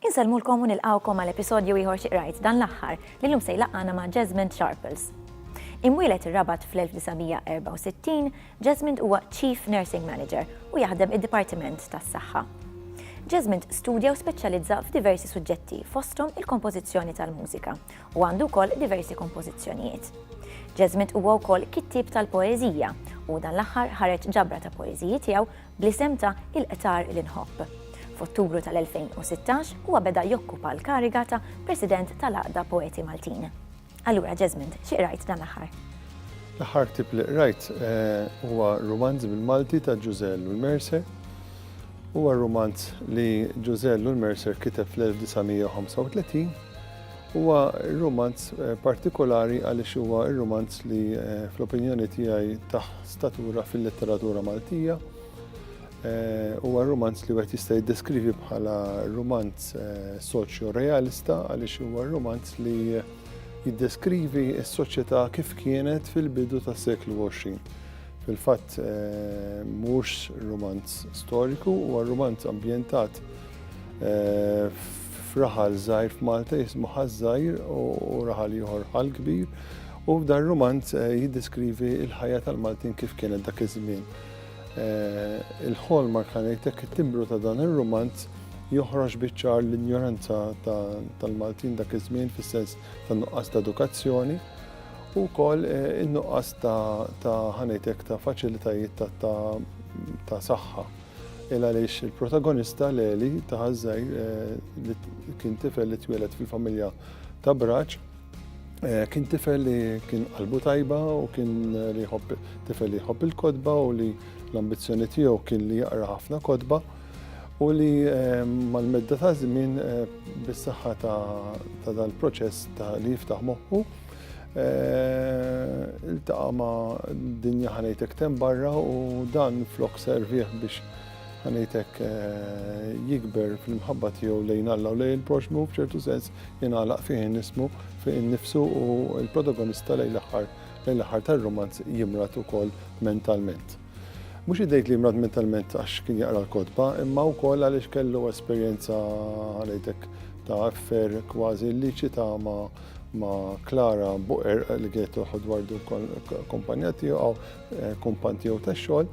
Insellmulkom u nilqawkom għal episodju ieħor xi qrajt dan l-aħħar li lum se jlaqqana ma' Jasmine Sharples. Imwielet ir-Rabat fl-1964, Jesmond huwa Chief Nursing Manager u jaħdem id-Dipartiment tas-Saħħa. Jesmond studja u speċjalizza f'diversi suġġetti fosthom il-kompożizzjoni tal-mużika u għandu wkoll diversi kompożizzjonijiet. Jesmond huwa wkoll kittieb tal-poeżija u dan l-aħħar ħareġ ġabra ta' poeżiji tiegħu bl-isem ta' Il-Qtar li Nħobb. F'Ottubru tal-2016 huwa beda jokkupa l-kariga ta' President tal-Għaqda Poeti Maltin. Allura, Jesmond, xi qrajt dan l-aħħar? L-aħħar tip li qrajt eh, huwa romanz bil-Malti ta' Ġużell u l-Mercer. Huwa romanz li Ġużell u l-Mercer kiteb fl-1935 Huwa romanz eh, partikolari għaliex huwa romanz li eh, fl-opinjoni tiegħi taħ statura fil-letteratura Maltija. Huwa rumanz li wieħed jista' jiddeskrivi bħala rumanz soċjo-realista għaliex huwa rumanz li jiddeskrivi s-soċjetà kif kienet fil-bidu tas-seklu 20. Fil-fatt mhux rumanz storiku, huwa rumanz ambjentat f'raħal żgħir f'Malta jismu ħaż-żgħir u raħal ieħor ħal kbir u dar rumanz eh, jiddeskrivi l-ħajja tal-Maltin kif kienet dak iż-żmien. Il-ħolma jekk ħa ngħidlek it-timbru ta' dan ir-rumanz joħroġ biċ-ċar l-injoranza tal-Maltin dak iż-żmien fis-sens tan-nuqqas ta' edukazzjoni u wkoll eh, in-nuqqas ta' ħanejtek ta' faċilitajiet ta' saħħa. Il għaliex il-protagonista Leli ta' ħażżajr eh, li kien tifel li twieled fil-familja ta' Braċ, Eh, kien tifel li kien qalbu tajba u kien li jħobb tifel li jħobb il-kodba u li l-ambizzjoni tiegħu kien li jaqra ħafna kodba u li eh, mal-medda ta' żmien eh, bis-saħħa ta' dal-proċess ta' li jiftaħ moħħu il-taqa ma' dinja ħanejtek tem barra u dan flok serviħ biex ħanejtek eh, jikber fil-mħabba tiegħu lejn Alla u lejn il-proxmu f'ċertu sens jingħalaq fih nismu fih nifsu u l-protagonista lejn l-aħħar lejn l-aħħar tar-romanz jimrat ukoll mentalment. Mhux idejt li jimrat mentalment għax kien jaqra l-kodba, imma wkoll għaliex kellu esperjenza ħanejtek ta' affer kważi li ċita ma' ma' Klara Buqer li kienet toħod wardu kompanja tiegħu, eh, kompan tiegħu tax-xogħol.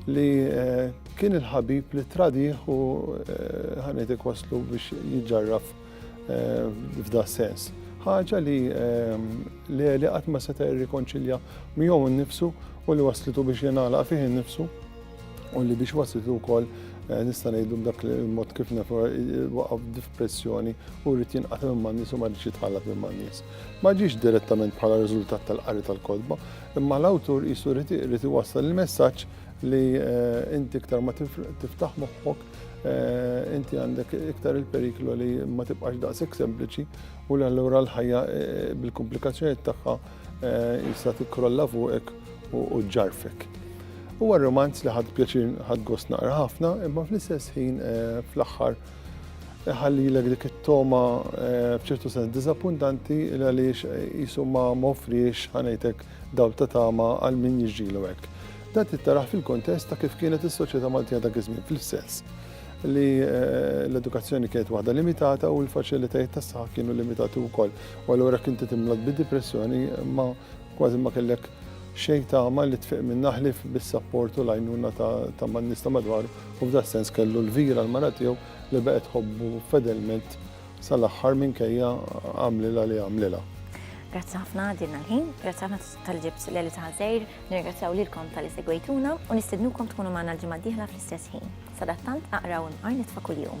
li eh, kien il-ħabib li tradiħ u eh, ħanetek waslu biex jġarraf eh, f'da sens. ħaġa li li li qatt ma seta' jirrikonċilja miegħu nnifsu u li waslitu biex jingħalaq fih innifsu u li biex waslitu wkoll nista' ngħidu b'dak il-mod kif nafu waqaf f'pressjoni u rrid jinqata' minn nies u ma rridx jitħallat minn nies. Ma ġiex direttament bħala riżultat tal-qari tal-kodba, Imma l-awtur qisu jrid iwassal il-messaġġ li inti iktar ma tiftaħ moħħok Eh, inti għandek iktar il-periklu li ma tibqax daqshekk sempliċi u li allura l-ħajja eh, bil-komplikazzjonijiet tagħha eh, jista' tikkrolla fuqek u ġarfek. Huwa romanz li ħadd pjaċir ħadd gost naqra ħafna, imma fl-istess ħin fl-aħħar iħallilek dik it-togħma b'ċertu sens diżappuntanti għaliex qisu ma offriex ħanejtek dawl ta' tama għal min jiġġielu hekk. Dan tittaraħ fil-kontest ta' kif kienet is-soċjetà Maltija dak iż-żmien fl-istess li eh, l-edukazzjoni kienet waħda limitata u l-faċilitajiet tas saħħa kienu limitati wkoll. U allura kien titimlod bi depressjoni ma kważi ma kellek xejn tagħma li tfiq minn naħlif bis-sapport u l-għajnuna ta' man nista madwar u f'das-sens kellu lvira l-mara tiegħu li baqgħet tħobbu fedelment sal-aħħar minkejja għamlilha li għamlilha. Grazzi ħafna għadilna l-ħin, grazzi ħafna tal-ġibt l-eli ta' ħazejr, nirgrazzjaw lilkom tal-li segwejtuna u nistednukom tkunu maħna l-ġimgħa diħla fl-istess ħin. Sadattant aqraw imqar nitfa' kuljum.